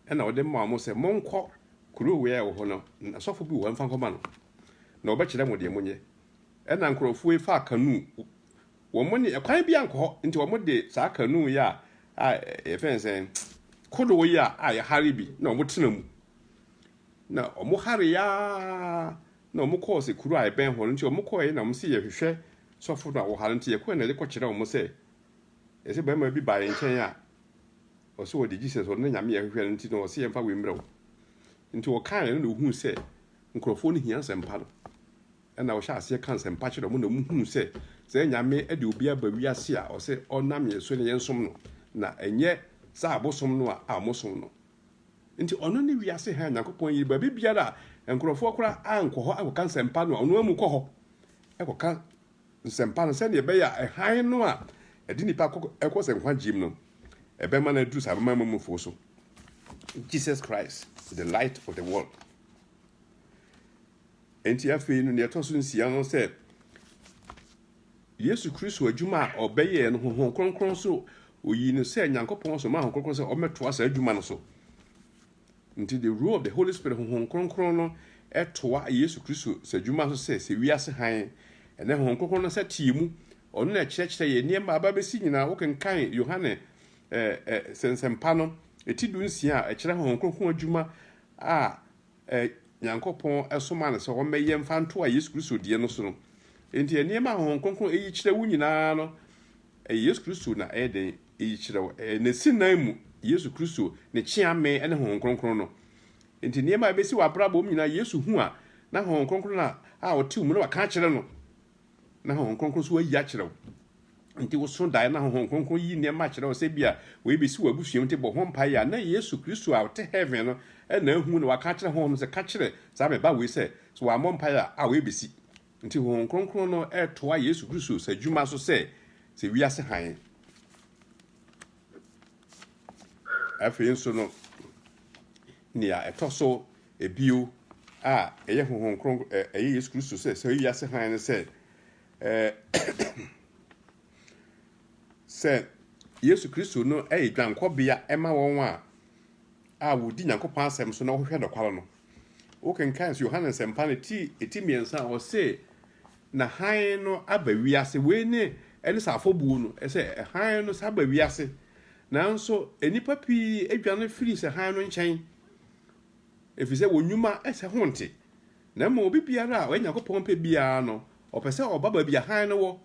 ɛna ɔde maa ɔmo sɛ monkɔ kuro wei a ɛwɔ hɔ no na sɔfo bi wɔ hɔ mfa nkɔma no na ɔbɛkyerɛ mo deɛ monyɛ ɛna nkurɔfoɔ yi faa kanu wɔn nni ɛkwan bi ankɔ hɔ nti wɔn de saa kanuu yi a a yɛfrɛ no sɛn kodoɔ yi a a yɛhare bi na wɔn tena mu na wɔn hare ya na wɔn kɔɔ sɛ kuro a ɛbɛn hɔ no nti wɔn kɔɛ na wɔn si yɛhwehwɛ sɔfo no a wɔhare nti yɛkɔɛ na yɛkɔ kyerɛ wɔn sɛ yɛsɛ barima bi baa yɛn nkyɛn a ɔsɛ ɔde Jesus ɔno na nyame yɛhwehwɛ no nti na ɔsɛ yɛmfa wei mmerɛ wo nti wɔkaeɛ no na wɔhuu sɛ nkurɔfoɔ no hia nsɛmpa no na wɔhyɛɛ aseɛ ka nsɛmpa kyerɛɛ wɔn na wɔhunuu sɛ sɛ Nyame de obi aba wiase a ɔsɛ ɔnam yɛn so na yɛnsom no na ɛnyɛ saa abosom no a a wɔsom no nti ɔno ne wiase hann Nyankopɔn yiri baabi biara a nkurɔfoɔ koraa ankɔ hɔ akɔka nsɛmpa no a ɔno amu kɔ hɔ ɛkɔka nsɛmpa no sɛdeɛ ɛbɛyɛ a hann no a ɛde nipa kɔ ɛkɔ sɛ nkwagyeem no ɛbɛma no aduru saa bɛma mamufoɔ so Jesus Christ the light of the world Enti afei no, nea ɛtɔ so nsia no sɛ Yesu Kristo adwuma a ɔbɛyɛɛ no Honhom Kronkron so oyii no sɛ Nyankopɔn somaa Honhom Kronkron sɛ ɔmmɛtoa saa adwuma no so. Nti the role of the Holy Spirit Honhom Kronkron no ɛtoa Yesu Kristo sɛ adwuma so sɛ sɛ wiase hann. Ɛnɛ Honhom Kronkron no nsa tie mu. Ɔno na ɛkyerɛkyerɛ yɛ nneɛma a aba bɛsi nyinaa. Wokenkan Yohane eh, eh, sɛnsɛmpa no, ɛti du nsia a ɛkyerɛ Honhom Kronkron adwuma a a Nyankopɔn somaa no sɛ ɔmmɛyɛ mfa ntoa Yesu Kristo deɛ no so no. Enti nneɛma a Honhom Kronkron yi kyerɛ wo nyinaa no, ɛyɛ Yesu Kristo na ɛyɛ dɛn yi kyerɛ wo? Ɛyɛ N'asinan mu, Yesu Kristo, Ne kyeame ne Honhom Kronkron no. Enti nneɛma a ɛbɛsi w'abrabɔ mu nyinaa, Yesu hu a, na Honhom Kronkron na a ɔte wo mu na waka akyerɛ no. na Honhom Kronkron nso ayi akyerɛ wo. Nti woso dae na Honhom Kronkron yi nneɛma akyerɛ wo sɛ bia wei bɛsi wɔ abusua mu nti bɔ ho mpaeɛ a na Yesu Kristo a ɔte heaven no na ahu na waka akyerɛ Honhom sɛ ka kyerɛ saa me ba wei sɛ sɛ wammɔ mpaeɛ a a wei bɛsi. Nti Honhom Kronkron no retoa Yesu Kristo sɛ adwuma so sɛ sɛ wiase hann. Afei nso no, nea ɛtɔ so Bio, a ɛyɛ Honhom Kronkron, ɛ, ɛyɛ Yesu Kristo sɛ, sɛ ɔyɛ wiase hann no sɛ, ɛ, sɛ Yesu Kristo no yɛ dwankɔbea ma wɔn a, a wɔdi Nyankopɔn asɛm so na wɔhwehwɛ nokware no. Wokenkan so Yohane Nsɛmpa no ti, ti mmiɛnsa a, ɔse, Na hann no aba wiase. Wei ne, ɛne sɛ afɔbuo no, ɛsɛ, hann no sɛ aba wiase. Nanso, nnipa pii adwane firi sɛ hann no nkyɛn. Efisɛ wɔn nnwuma sɛ ho nte. Na mmom obi biara a ɔyɛ Nyankopɔn pɛ biara no, ɔpɛ sɛ ɔba baabi a hann no wɔ,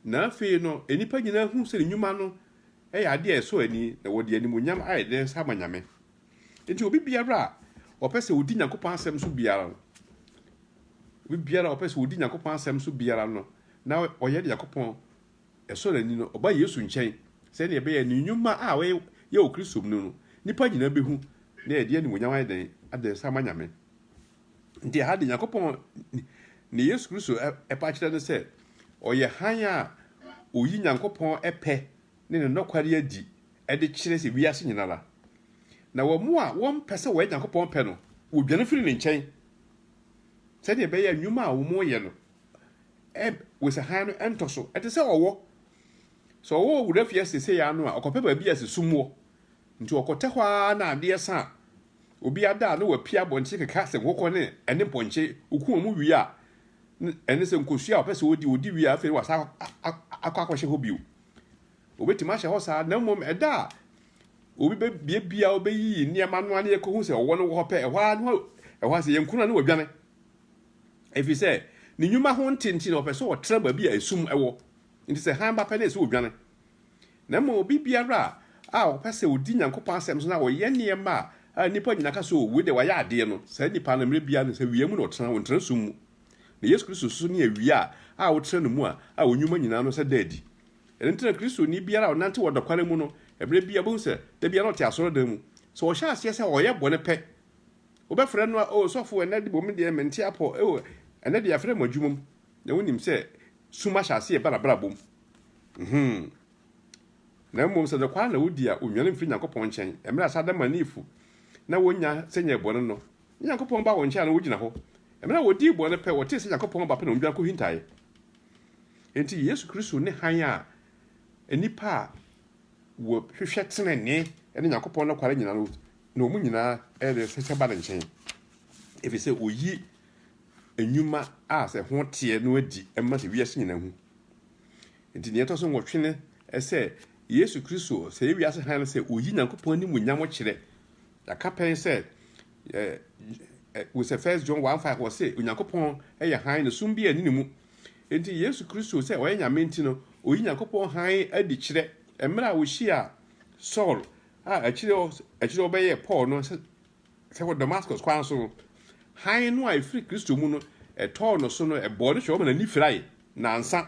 na afei no nnipa nyinaa hu sɛ ne nnwuma no yɛ ade a ɛsɔ ani, na wɔde animuonyam ayɛ dɛn nsa ama Nyame. Enti obi biara a ɔpɛ sɛ odi Nyankopɔn asɛm so biara no, obi biara a ɔpɛ sɛ odi Nyankopɔn asɛm so biara no, na ɔyɛ Nyankopɔn ɛsɔ n'ani no, ɔba Yesu nkyɛn sɛnea ɛbɛyɛ ne nnwuma a ɔyɛ wɔ Kristo mu no, nnipa nyinaa behu na ɛde animuonyam ayɛ dɛn? Ada nsa ama Nyame. Nti ɛha de, Nyankopɔn ne Yesu Kristo ɛpɛ akyerɛ ne sɛ ɔyɛ hann a oyi Nyankopɔn pɛ ne ne nɔkware adi de kyerɛ sɛ wiase nyina ara. Na wɔn a wɔmpɛ sɛ wɔyɛ Nyankopɔn pɛ no, wɔdwane firi ne nkyɛn sɛnea ɛbɛyɛ a nnwuma a wɔyɛ no Eb, Wesa hann no ntɔ so. Ɛte sɛ ɔwɔ. Sɛ ɔwɔ wɔ wura fie seesei ara no a, ɔkɔpɛ baabi a sisum wɔ. Nti ɔkɔtɛ hɔ ara na adeɛ sa a, obi ada a na wapia abɔnten keka sɛ nkokɔ ne ɛne mpɔnkye. Oku wɔn wie a, ɛne sɛ nkosua a ɔpɛ sɛ ɔdi, ɔdi wie a, afei wasa akɔ akɔhyɛ hɔ bio. Ɔbɛtumi ahyɛ hɔ saa, na mmom ɛda a obi bɛbie bia a ɔbɛyiyi nneɛma no a na yɛkɔhu sɛ ɔwɔ no wɔ hɔ pɛ, ɛhɔ ara na ɛhɔ ara sɛ yɛnkunu a na wadwane. Efisɛ ne nnwuma ho nte nti na ɔpɛ sɛ ɔtra baabi a esum wɔ. Enti sɛ hann ba pɛ no, ɛsɛ sɛ odwane. Na mmom obi biara a ɔpɛ sɛ odi Nyankopɔn asɛm so na ɔyɛ nneɛma a nnipa nyinaa ka sɛ, 'O, wei de, wayɛ adeɛ' no, saa nipa no, mmerɛ biara no, sɛ awia mu na ɔtra, ɔntra sum mu. Na Yesu Kristo nso ne awia a wotra ne mu a a wo nnwuma nyinaa no sɛ da adi. Ɛno nti na Kristoni biara a ɔnante wɔ nɔkware mu no, mmerɛ biara ɔbɛhu sɛ da biara na ɔte asɔredan mu. Sɛ ɔhyɛ aseɛ sɛ ɔyɛ bɔne pɛ Wobɛfrɛ no a, O sɔfo, ɛnnɛ de bom deɛ, mente apɔ, O ɛnnɛ de yɛafrɛ mo adwumam, na wonim sɛ sum ahyɛ aseɛ reba n'abrabom, mm-hmm, na mmom sɛ nɔkware na wodi a, onwane mfiri Nyankopɔn nkyɛn, mmerɛ a saa adamanifo na wɔnya sɛ nyɛɛ bɔne no, na Nyankopɔn baa wɔn nkyɛn a na wɔgyina hɔ, mmerɛ a wɔdii bɔne pɛ, wɔtee sɛ Nyankopɔn ba pɛ na wɔdwane kɔhintaeɛ. Enti Yesu Kristo ne hann a nnipa a wɔhwehwɛ tenenee ne Nyankopɔn nɔkware nyina no na wɔn nyinaa resesa ba ne nkyɛn, ɛfiri sɛ ɔyi nnwuma a sɛ ho teɛ no adi ma sɛ wiase nyinaa hu. Nti nea ɛtɔ so nwɔtwe ne sɛ Yesu Kristo sɛ yɛ wiase hann no sɛ ɔyi Nyankopɔn animuonyam kyerɛ. Yɛaka pɛn sɛ wosɛ First John 1:5 wɔ sɛ Onyankopɔn yɛ hann na sum bi anni ne mu. Nti Yesu Kristo sɛ ɔyɛ Nyame nti no, ɔyi Nyankopɔn hann adi kyerɛ. Mmerɛ a ɔhyia Saul A Akyiri yi, akyiri yi wɔbɛyɛɛ Paul no sɛ wɔ Damascus kwan so no, hann no a ɛfiri Kristo mu no tɔɔ no so no, ɛbɔɔ ne hwɛ, ɔma n'ani firae nnansa.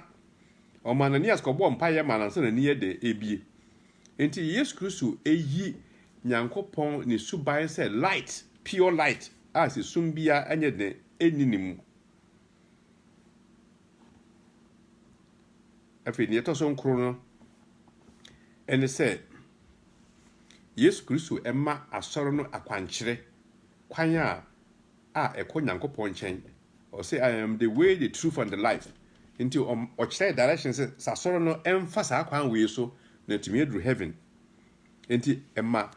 Ɔmaa Ananias kɔbɔɔ mpaeɛ maa no ansa na n'ani yɛ dɛ ɛrebue. Enti Yesu Kristo yi Nyankopɔn ne suban sɛ light, pure light a sɛ sum biara nyɛ den nni ne mu. Afei nea ɛtɔ so nkron no ɛne sɛ Yesu Kristo ma asɔre no akwankyerɛ kwan a a ɛkɔ Nyankopɔn nkyɛn. Ɔsɛ I am the way, the truth and the life. Nti ɔkyerɛ direction sɛ sɛ asɔre no ɛmfa saa kwan wei so na ɛtumi aduru heaven. Nti ɛma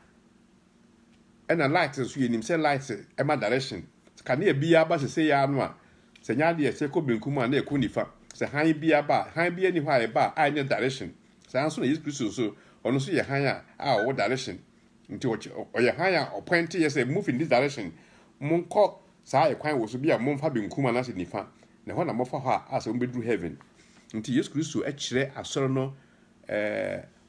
Ɛna light nso yɛ nim sɛ light ɛma direction kanea bi aba sese ya no a sɛ nyɛ adeɛ ɛsɛ kɔ benkum a na ɛkɔ nifa sɛ hann bi aba a hann bi ani hɔ a ɛba a ɛnyɛ direction saa nso na Yesu Kristo nso ɔno nso yɛ hann a a ɔwɔ direction nti ɔkyɛ ɔyɛ hann a ɔpɔinte yɛ sɛ move in this direction mo nkɔ saa ɛkwan wɔ so bi a mo mfa benkum anaasɛ nifa na ɛhɔ na mo fa hɔ a a sɛ mo bɛduru heaven nti Yesu Kristo ɛkyerɛ asɔre no ɛɛ.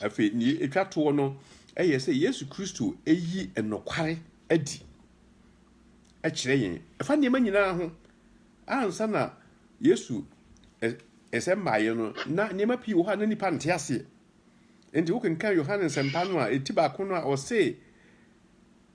Afei, nea etwa toɔ no yɛ sɛ Yesu Kristo yi nokware adi kyerɛ yɛn. Ɛfa nneɛma nyinaa ho. Ansa na Yesu nsɛm baeɛ no, na nneɛma pii wɔ hɔ a na nnipa nte aseɛ. Enti wokenkan Yohane nsɛmpa no a, ɛti baako no a ɔse,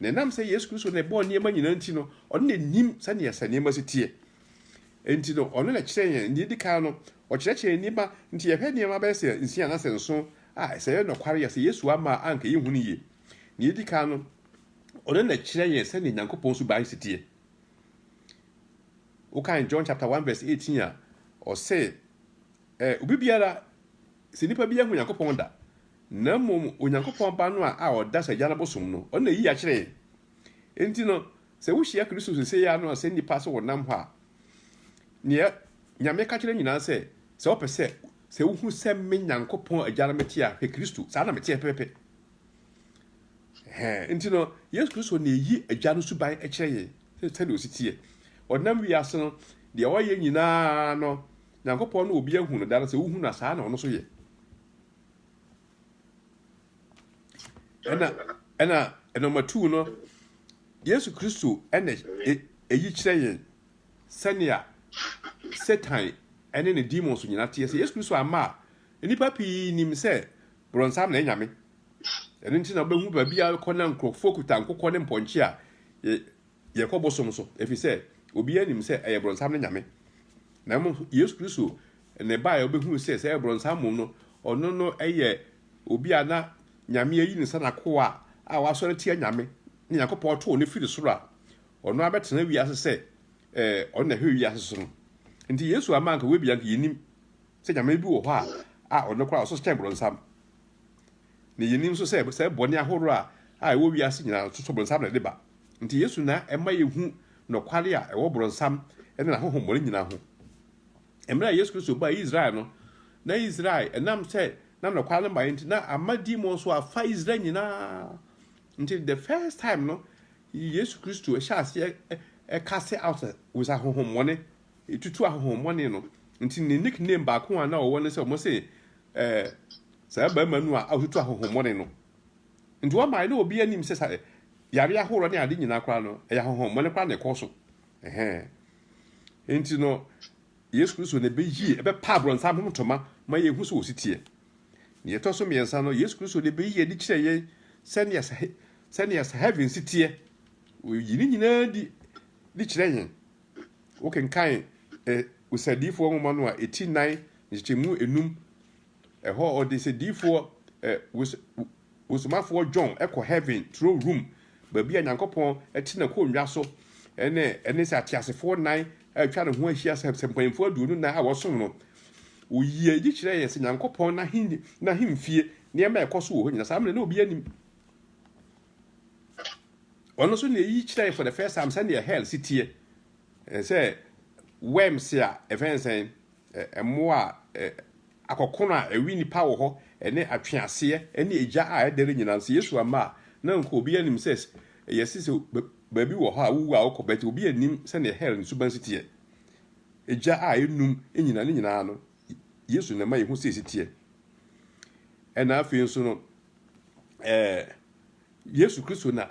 Na ɛnam sɛ Yesu Kristo na ɛbɔɔ nneɛma nyinaa nti no, ɔno na nim sɛnea sɛ nneɛma si teɛ. Enti no, ɔno na ɛkyerɛ yɛn. Nea edi kan no, ɔkyerɛkyerɛ nneɛma nti yɛhwɛ nneɛma bɛyɛ sɛ nsia anaasɛ nson a, sɛ ɛyɛ nokware a, sɛ Yesu amma a, anka yɛnhu no yie. Nea edi kan no, ɔno na ɛkyerɛ yɛn sɛnea Nyankopɔn suban si teɛ. Wokan John chapter 1 verse 18 a, ɔse, Ɛ, obi biara, sɛ nipa bi anhu Nyankopɔn da, na mmom Onyankopɔn Ba no a a ɔda sɛ Agya no bosom no, ɔno na eyi akyere yɛn. Enti no, sɛ wohyia Kristo seesei ara no sɛ nnipa sɛ wɔnam hɔ a, nea Nyame ka kyerɛ nyinaa sɛ, Sɛ wopɛ sɛ, sɛ wohu sɛ me Nyankopɔn Agya no mete a, hwɛ Kristo, saa na meteɛ pɛpɛpɛ. Ɛhɛɛ, enti no, Yesu Kristo na eyi Agya no suban kyerɛ yɛn, sɛ sɛdeɛ ɔsi teɛ. Ɔnam wiase no, deɛ ɔyɛ nyinaa no, Nyankopɔn no obi ahu no da no sɛ wohu no a saa na ɔno nso yɛ ɛna ɛna ɛnɔma tuu no Yesu Kristo ɛna ɛyi kyerɛ yɛn sɛnea Satan ɛne ne demons nyina teɛ sɛ Yesu Kristo ama a nnipa pii nim sɛ borɔnsam na ɛnyame ɛno nti na wobɛhu baabi a kɔ na nkurɔfoɔ kuta nkokɔ ne mpɔnkye a Yɛkɔ bosom so ɛfiri sɛ obiara nim sɛ ɛyɛ brɔnsam ne nyame, na mmom Yesu Kristo na ɛbaeɛ a wobɛhunu sɛ sɛ ɛyɛ brɔnsam mmom no, ɔno no yɛ obi a na nyame ayi ne nsa n'akoa a wasɔre tia nyame na Nyankopɔn too no firi soro a ɔno abɛtena wiase sɛ eh, ɔno na ɛhwɛ wiase so no. Nti Yesu ama anka wei bia anka yɛnim sɛ nyame bi wɔ hɔ a a ɔno koraa ɔso kyɛn brɔnsam. na yenim nso sɛ saa bɔne ahorow a a ɛwɔ wiase nyinaa no, so Bronsam na ɛde ba. Enti Yesu na ɛma yehu nokware a ɛwɔ Bronsam ne n'ahonhommɔne nyinaa ho. Mmere a Yesu Kristo baa Israel no, na Israel, ɛnam sɛ na nokware no mmaeɛ nti, na ama demon so afa Israel nyinaa. Nti, the first time no, Yesu Kristo ɛhyɛ aseɛ ɛ- ɛ- cast out with ahonhommɔne, ɛtutu ahonhommɔne no. Nti ne nickname baako a na ɔwɔ ne sɛ wɔn se eh, Saa barima no a ɔatutu ahonhommɔne no, nti wɔmae na obiara nim sɛ saa yare ahoroɔ ne ade nyinaa koraa no, ɛyɛ ahonhommɔne koraa na ɛkɔɔ so. Ɛhɛn. Enti no, Yesu Kristo na ɛbɛyie, ɛbɛpa abrɔnsam ho ntoma ma yɛhu sɛ wɔsi teɛ. Nea ɛtɔ so mmiɛnsa no, Yesu Kristo na ɛbɛyi adi kyerɛ yɛn sɛnea sɛ sɛnea sɛ heaven si teɛ. Wɔyi ne nyinaa di di kyerɛ yɛn. Wokenkan ɛ, Osadiyifoɔ nwoma no a, ɛti nan, nkyekyɛmu enum, Ɛhɔ a ɔde sɛ diifoɔ ɛ, wos, wosomafoɔ John kɔ Heaven turo room, baabi a Nyankopɔn te N'akonnwa so, ɛne, ɛne sɛ ateasefoɔ nnan a atwa ne ho ahyia sɛ, sɛ mpanyimfoɔ aduonu nan a wɔsom no. Ɔyii adi kyerɛɛ yɛn sɛ Nyankopɔn n'ahe, n'ahemfie, nneɛma a ɛkɔ so wɔ hɔ nyinaa, saa mmerɛ na obiara nnim. Ɔno nso na ɛyi kyerɛɛ yɛn for the first time sɛdeɛ hell si teɛ, ɛ, sɛ worms a, ɛfɛn sɛn, Mmoa a akɔkono a ɛwe nnipa wɔ hɔ, ne atweaseɛ ne egya a ɛdɛre nyinaa nso, Yesu amma a, na nka obiara nnim sɛ yɛse sɛ baabi wɔ hɔ a wowu a wokɔ, but obiara nnim sɛdeɛ hell ne suban si teɛ. Egya a ɛnum nyinaa, ne nyinaa no, Yesu na ɛma yɛhu sɛ ɛsi teɛ. Ɛna afei nso no, ɛɛ, Yesu Kristo na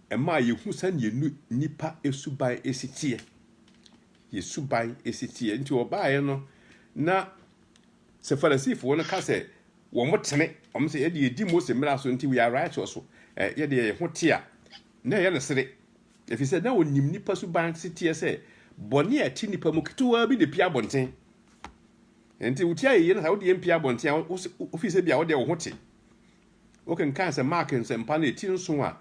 ɛma yɛhu sɛdeɛ nnipa suban si teɛ. yɛ suban si teɛ. Enti wɔbaeɛ no, na sɛ Farisifoɔ no ka sɛ wɔtene, wɔn sɛ yɛde yɛdi Mose mmara so nti we are righteous, so eh, yɛde yɛn ho te a, na ɛyɛ no sere. Ɛfiri sɛ na wɔnim nnipa suban se teɛ sɛ bɔne a ɛte nnipa mu ketewaa bi na ɛpia abɔnten. Enti wotia yɛyɛ no saa, wode yɛn pia abɔnten a, wofii sɛ bia wode wo ho te. Wokenkan sɛ Mark Nsɛmpa no ti nson a,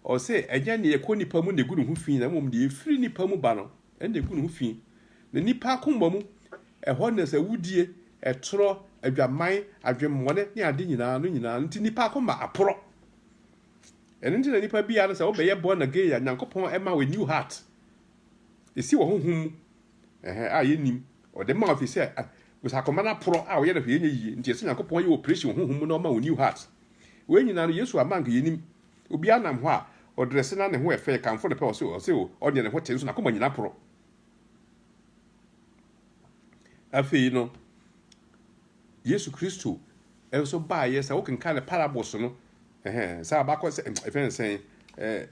ɔse, Ɛnyɛ nea ɛkɔ nnipa mu na egu ne ho fi, na mmom nea efiri nnipa mu ba no na egu ne ho fi. Na nnipa akoma mu, ɛhɔ na nsɛwodie, ɛtorɔ, adwamman, adwemmɔne ne ade nyinaa no nyinaa nti nnipa akoma aporɔ. Ɛno nti na nnipa biara no sɛ wobɛyɛ born again a, Nyankopɔn ɛma wo a new heart. Esi wɔ honhom mu. Ɛhɛn, a yennim. Ɔde ma wo efisɛ bosa akoma no aporɔ a ɔyɛ no hwee nyɛ yiye. Nti ɛsɛ Nyankopɔn yɛ operation wɔ honhom mu na ɔma wo new heart. Wei nyinaa no, Yesu amma a anka yennim. Obiara nam hɔ a, ɔdrɛse na ne ho ɛfɛ, yɛkamfo no pɛ, ɔse, ɔse o, ɔdeɛ ne ho te nso n'akoma nyinaa aporɔ. Afei no, Yesu Kristo nso baeɛ sɛ wokenkan ne parables no, Ɛhɛɛ, sɛ abakɔ sɛ, ɛfɛ no sɛn, ɛɛ,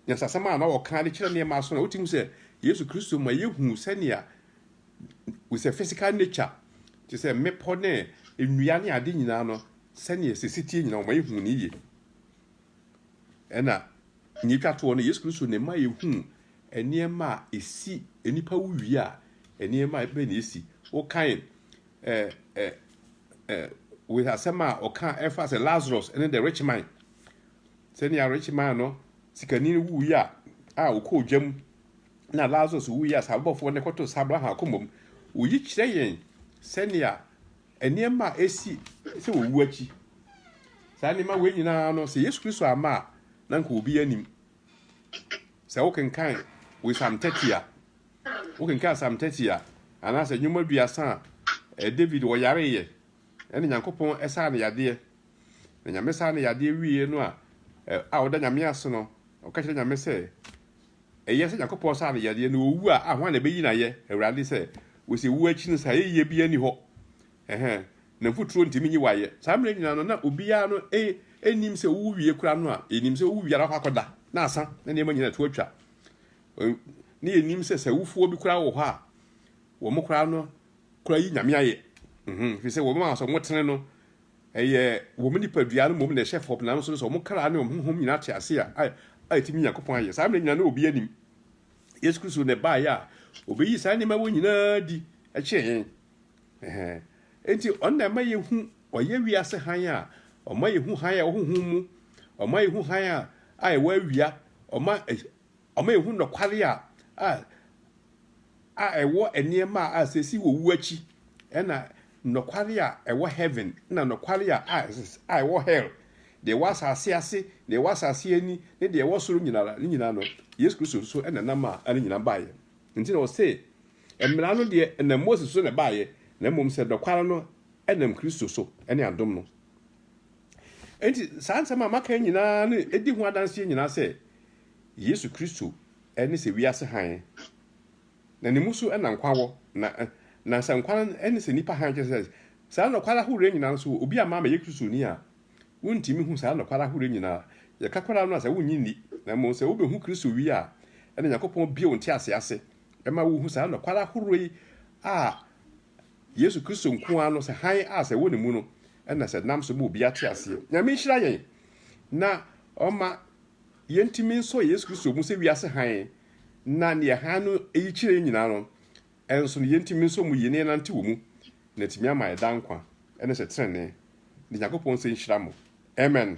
nyasasɛm a na wɔka de kyerɛ nneɛma aso na wote hu sɛ Yesu Kristo ma yehu sɛnea we sɛ physical nature te sɛ mmepɔ ne nnua ne ade nyinaa no sɛnea sisi tie nyinaa wɔma yehu ne yie. Ɛna nea etwa toɔ no Yesu Kristo na ɛma yehu nneɛma a esi nnipa wuwie a nneɛma bɛn na esi. Wokan wei asɛm a ɔka ɛfa sɛ Lazarus ne the rich man sɛnea rich man no sikani no wui a a ɔkɔ ogya mu na Lazarus wui a sabɔfoɔ no kɔto sabra ha akoma mu oyi kyerɛ yɛn sɛnea nneɛma a ɛsi sɛ wɔwu akyi saa nneɛma wei nyinaa no sɛ Yesu Kristo ama a na nka obi anim sɛ wokenkan wei Psalm 30 a Wokenkan Psalm 30 a, anaasɛ nnwom aduasa a David ɔyareeɛ na Nyankopɔn saa no yadeɛ, na Nyame saa no yadeɛ wieɛ no a, a ɔda Nyame ase no, ɔka kyerɛ Nyame sɛ, ɛyɛ sɛ Nyankopɔn saa no yadeɛ na ɔwu a, a hwan na ɛbɛyi no ayɛ? Awurade sɛ, wɔsi wuo akyi no saa yɛyie biara ni hɔ, ɛhɛn, na mfuturo ntumi nyi wayɛ. Saa mmerɛ nyinaa no, na obiara no ɛnim sɛ ɔwu wie kora no a, ɛnim sɛ ɔwu wie ara hɔ akɔda, na asa, na nneɛma nyinaa to atwa. Ne yɛnim sɛ sɛ awufoɔ bi koraa wɔ hɔ a, wɔn koraa no koraa yi nyame ayɛ. Mhm, fi sɛ wɔn a sɛ wɔn tene no, ɛyɛ wɔn nipadua no mmom na ɛhyɛ fam nanso no sɛ wɔn kra ne wɔn honhom nyinaa te ase a, a, a ɛtumi Nyankopɔn ayɛ. Saa mmerɛ nyinaa no obi anim. Yesu Kristo na ɛbaeɛ a, obɛyi saa nneɛma wɔ nyinaa di kyerɛ yɛn. Ɛhɛn. Enti ɔno na ɛma yɛhu, ɔyɛ wiase hann a, ɔma yɛhu hann a ɛwɔ honhom mu, ɔma yɛhu hann a, a ɛwɔ awia, ɔma Ɔma yehu nokware a a a ɛwɔ nneɛma a a sɛsi wɔ wu akyi, ɛna nokware a ɛwɔ heaven na nokware a a a ɛwɔ hell, deɛ ɛwɔ asase ase, deɛ ɛwɔ asase ani, ne deɛ ɛwɔ soro nyina ara, ne nyina ara no, Yesu Kristo nso na ɛnam a a ne nyina baeɛ. Nti na ɔse, Mmara no deɛ ɛnam Moses so na ɛbaeɛ, na mmom sɛ nokware no ɛnam Kristo so, ɛne adom no. Enti saa nsɛm a maka yi nyinaa no di ho adanseɛ nyinaa sɛ Yesu Kristo ne sɛ wiase hann, na ne mu so na nkwa wɔ, na na sɛ nkwa ne sɛ nipa hann kyerɛ sɛ saa nɔkware ahoroɔ nyinaa nso wɔ. Obi a maama yɛ Kristoni a wontumi hu saa nɔkware ahoroɔ nyinaa, yɛka koraa no a sɛ wonnye nni, na mmom sɛ wobɛhu Kristo wie a, ɛna Nyankopɔn bie wo ntease ase ma wohu saa nɔkware ahoroɔ yi a Yesu Kristo nko ara no sɛ hann a sɛ ɛwɔ ne mu no na sɛ nam so bɔ obi ate aseɛ. Nyame nhyira yɛn na ɔma yɛntumi nsɔ Yesu Kristo mu sɛ wiase hann na neɛ hann no yi kyerɛ yɛn nyinaa no nso no yɛntumi nsɔ mu yie na yɛnante wɔ mu na atumi ama yɛn daa nkwa ne sɛ tenenee. Ne Nyankopɔn nsa nhyira mo. Amen.